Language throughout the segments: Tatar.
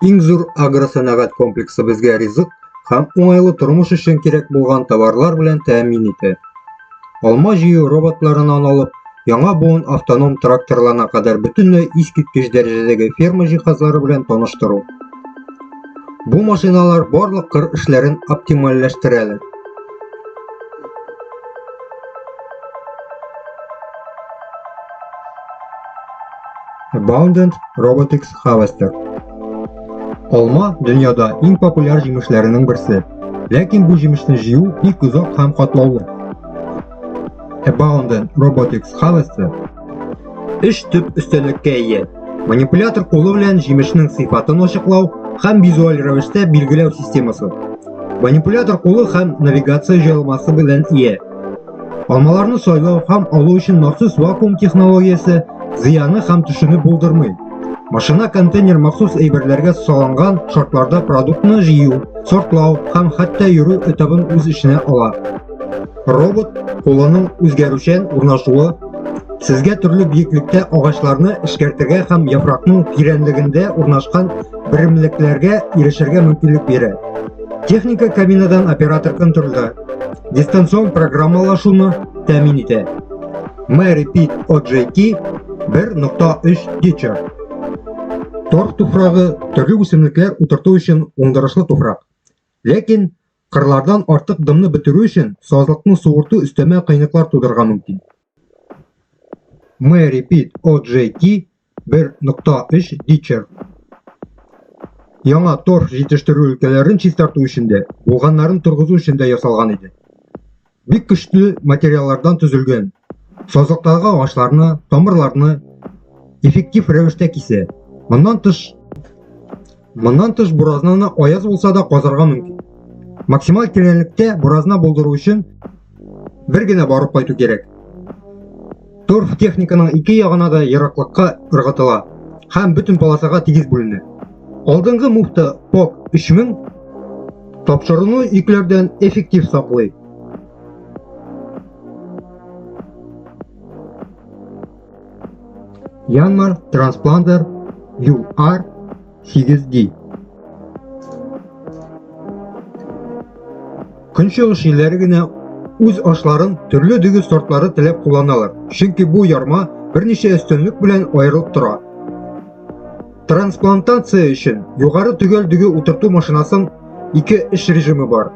Иң зур агросәнәгать комплексы безгә ризык һәм уңайлы тормыш өчен кирәк булган товарлар белән тәэмин итә. Алма җыю роботларынан алып, яңа буын автоном тракторларына кадәр бөтенләй искиткеч дәрәҗәдәге ферма җиһазлары белән таныштыру. Бу машиналар барлык кыр эшләрен оптимальләштерәләр. Abundant Robotics Harvester. Алма дөньяда иң популяр җимешләренең берсе. Ләкин бу җимешне җыю бик озак һәм катлаулы. Abundant Robotics Harvester өч төп өстәлеккә ия. Манипулятор кулы белән җимешнең сыйфатын ачыклау һәм визуаль рәвештә билгеләү системасы. Манипулятор кулы һәм навигация җайланмасы белән ия. Алмаларны сайлау һәм алу өчен махсус вакуум технологиясе зыяны һәм төшүне булдырмый. Машина контейнер махсус әйберләргә салынган шартларда продуктны җыю, сортлау һәм хәтта йөрү этабын үз эченә ала. Робот кулының үзгәрүчән урнашуы сезгә төрле биеклектә агачларны эшкәртергә һәм яфракның тирәнлегендә урнашкан берәмлекләргә ирешергә мөмкинлек бирә. Техника кабинадан оператор контрольдә дистанцион программалашуны тәмин итә. My Repeat OJT 1.3 Teacher Тор туфрагы төрле үсемлекләр утырту өчен уңдырышлы туфрак. Ләкин кырлардан артык дымны бетерү өчен сазлыкны суырту өстәмә кыенлыклар тудырырга мөмкин. Мы repeat OJT 1.3 Ditcher. Яңа торф җитештерү өлкәләрен чистарту өчен дә, булганнарын торгызу өчен дә ясалган иде. Бик көчле материаллардан төзелгән. Сазлыктагы агачларны, тамырларны эффектив рәвештә кисә. Моннан тыш Моннан тыш буразнаны аяз булса да казарга мөмкин. Максималь тирәнлектә буразна булдыру өчен бер генә барып кайту кирәк. Торф техниканың ике ягына да ераклыкка ыргытыла һәм бөтен полосага тигез бүленә. Алдынгы муфта ПОК 3000 тапшыруны йөкләрдән эффектив саклый. Янмар Транспламдер UR 8D Көнчыгыш илләре генә үз ашларын төрле дөге сортлары теләп кулланалар, чөнки бу ярма берничә өстенлек белән аерылып тора. Трансплантация өчен югары төгәл дөге утырту машинасын ике эш режимы бар.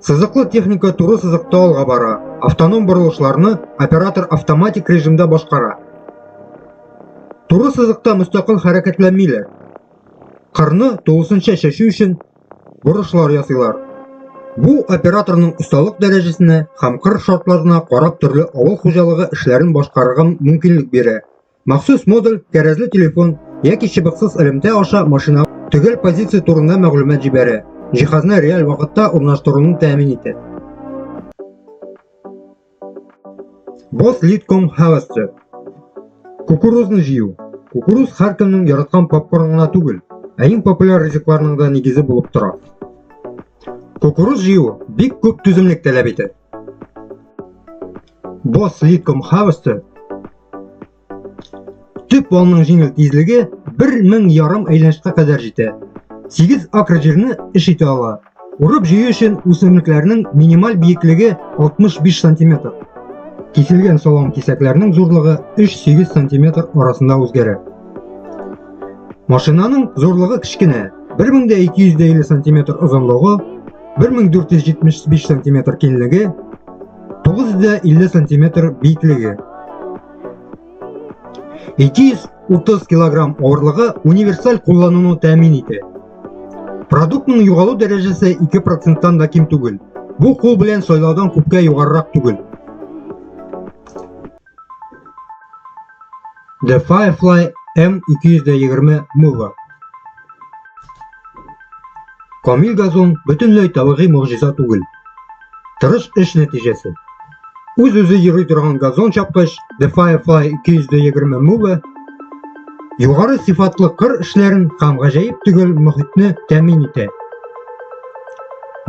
Сызыклы техника туры сызыкта алга бара, автоном борылышларны оператор автоматик режимда башкара. Туры сызыкта мөстәкыйль хәрәкәтләнмиләр. Кырны тулысынча чәчү өчен бурышлар ясыйлар. Бу операторның осталык дәрәҗәсенә һәм кыр шартларына карап төрле авыл хуҗалыгы эшләрен башкарырга мөмкинлек бирә. Махсус модуль, кәрәзле телефон яки чыбыксыз элемтә аша машина төгәл позиция турында мәгълүмат җибәрә, җиһазны реаль вакытта урнаштыруны тәэмин итә. Boss Leadcom Havasser Кукурузны җыю. Кукуруз һәркемнең яраткан попкорн гына түгел, ә иң популяр ризыкларның да нигезе булып тора. Кукуруз җыю бик күп түземлек таләп итә. Бос литком хавысты төп валның җиңел тизлеге 1000 ярым әйләнешкә кадәр җитә. 8 акр җирне эш итә ала. Урып җыю өчен үсемлекләрнең минималь биеклеге 65 сантиметр. Киселгән салам кисәкләрнең зурлыгы 3-8 сантиметр арасында үзгәрә. Машинаның зурлыгы кечкенә, 1250 сантиметр озынлыгы, 1475 сантиметр киңлеге, 950 сантиметр биеклеге. 230 килограмм авырлыгы универсаль куллануны тәэмин итә. Продуктның югалу дәрәҗәсе 2%-тан да ким түгел. Бу кул белән сайлаудан күпкә югарырак түгел. The Firefly M220 Mover. Камил газон бөтенләй табигый могҗиза түгел. Тырыш эш нәтиҗәсе. Үз-үзе йөри торган газон чапкыч The Firefly 220 Mover югары сыйфатлы кыр эшләрен һәм гаҗәеп төгәл мөхитне тәэмин итә.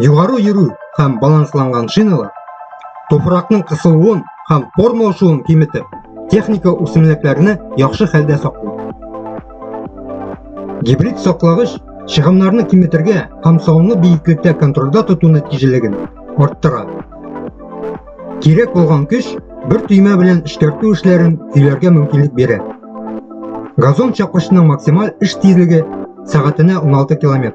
Югары йөрү һәм балансланган шиналар туфракның кысылуын һәм форма ошуын киметеп, техника үсемлекләрне яхшы хәлдә саклый. Гибрид саклагыч чыгымнарны киметергә һәм салымны биеклектә контрольдә тоту нәтиҗәлеген арттыра. Кирәк булган көч бер төймә белән эшкәртү эшләрен көйләргә мөмкинлек бирә. Газон чапкычының максималь эш тизлеге сәгатенә 16 км.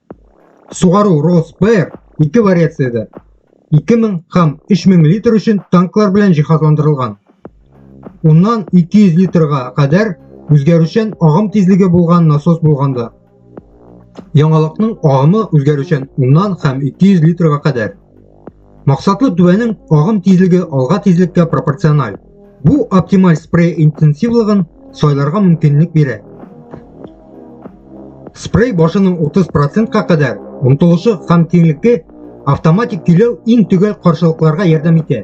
Сугару Росбер ике вариациядә 2000 һәм 3000 литр өчен танклар белән җиһазландырылган. Уннан 200 литрга кадәр үзгәрүчән агым тизлеге булган насос булганда. Яңалыкның агымы үзгәрүчән уннан һәм 200 литрга кадәр. Максатлы түбәнең агым тизлеге алга тизлеккә пропорциональ. Бу оптималь спрей интенсивлыгын сайларга мөмкинлек бирә. Спрей башының 30%-ка кадәр омтылышы һәм киңлекке автоматик көйләү иң төгәл каршылыкларга ярдәм итә.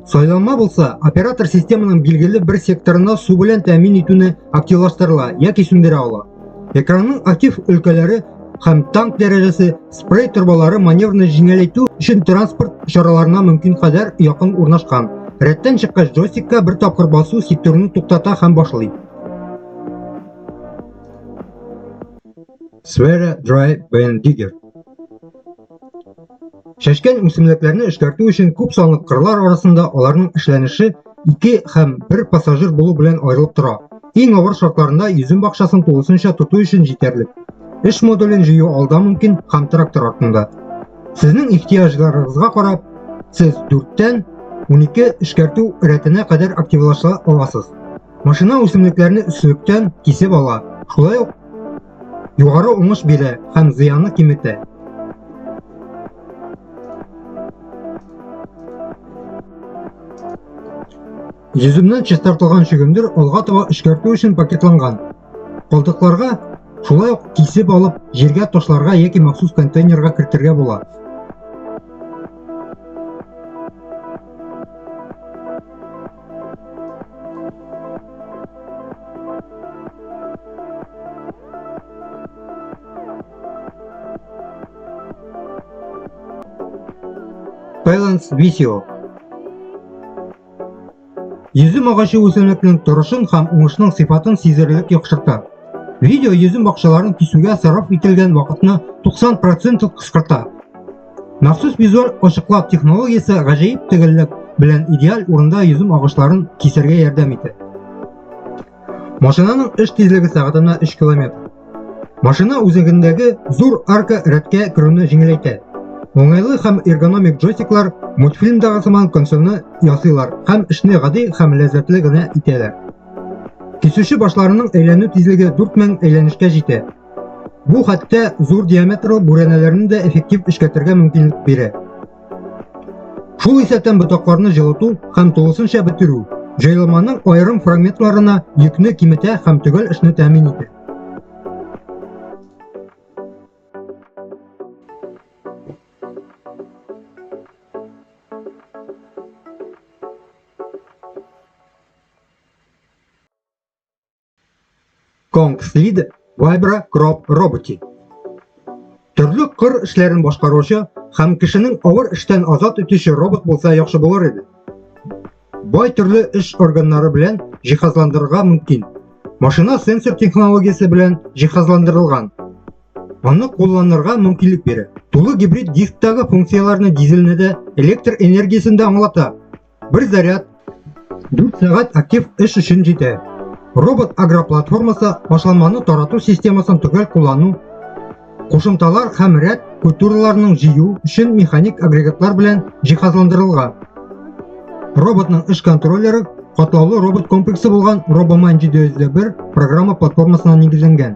Сайланма булса, оператор системаның билгеле бер секторына су белән тәэмин итүне активлаштырыла яки сүндерә ала. Экранның актив өлкәләре һәм танк дәрәҗәсе спрей торбалары маневрны җиңеләйтү өчен транспорт чараларына мөмкин кадәр якын урнашкан. Рәттән чыккач джойстикка бер тапкыр басу секторны туктата һәм башлый. Sfera Drive Band Digger Чәчкән үсемлекләрне эшкәртү өчен күп санлы кырлар арасында аларның эшләнеше ике һәм бер пассажир булу белән аерылып тора. Иң авыр шартларында йөзем бакчасын тулысынча тоту өчен җитәрлек. Эш модулен җыю алда мөмкин һәм трактор артында. Сезнең ихтыяҗларыгызга карап, сез 4-тән 12 эшкәртү рәтенә кадәр активлаша аласыз. Машина үсемлекләрне өслектән кисеп ала, шулай ук Югары уңыш бирә һәм зыянны киметә. Йөземнән чистартылган чөгендер алга таба эшкәртү өчен пакетланган. Калдыкларга шулай ук кисеп алып, җиргә ташларга яки махсус контейнерга кертергә була. Balance Visio Йөзем агачы үсемлекнең торышын һәм уңышның сыйфатын сизелерлек яхшырта. Видео йөзем бакчаларын кисүгә сарыф ителгән вакытны 90% кыскарта. Махсус визуаль ачыклау технологиясе гаҗәеп төгәллек белән идеаль урында йөзем агачларын кисәргә ярдәм итә. Машинаның эш тизлеге сәгатенә 3 км. Машина үзәгендәге зур арка рәткә керүне җиңеләйтә. Уңайлы һәм эргономик джойстиклар мультфильмдагы сыман консольны ясыйлар һәм эшне гади һәм ләззәтле генә итәләр. Кисүче башларының әйләнү тизлеге 4000 әйләнешкә җитә. Бу хәтта зур диаметрлы бүрәнәләрне дә эффектив эшкәртергә мөмкинлек бирә. Шул исәптән ботакларны җылыту һәм тулысынча бетерү җайланманың аерым фрагментларына йөкне киметә һәм төгәл эшне тәэмин итә. Конгслид Вайбра Кроп роботы. Төрле кыр эшләрен башкаручы һәм кешенең авыр эштән азат итүче робот булса яхшы булыр иде. Бай төрле эш органнары белән җиһазландырырга мөмкин. Машина сенсор технологиясе белән җиһазландырылган. Аны кулланырга мөмкинлек бирә. Тулы гибрид дисктагы функцияләрне дизельне дә электр энергиясен дә аңлата. Бер заряд 4 сәгать актив эш өчен җитә. Робот агроплатформасы башланманы тарату системасын төгәл куллану, кушымталар һәм рәт культураларының җыю өчен механик агрегатлар белән җиһазландырылган. Роботның эш контроллеры катлаулы робот комплексы булган RoboMan 701 программа платформасына нигезләнгән.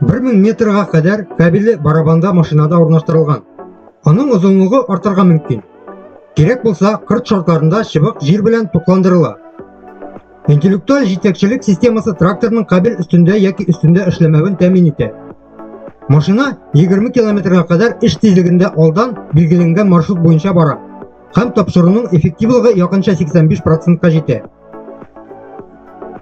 Бер мең метрга кадәр кабеле барабанда машинада урнаштырылган. Аның озынлыгы артырга мөмкин. Кирәк булса, кырт шартларында чыбык җир белән тукландырыла. Интеллектуаль җитәкчелек системасы тракторның кабель өстендә яки өстендә эшләмәвен тәмин итә. Машина 20 километрга кадәр эш тизлегендә алдан билгеләнгән маршрут буенча бара һәм тапшыруның эффективлыгы якынча 85 процентка җитә.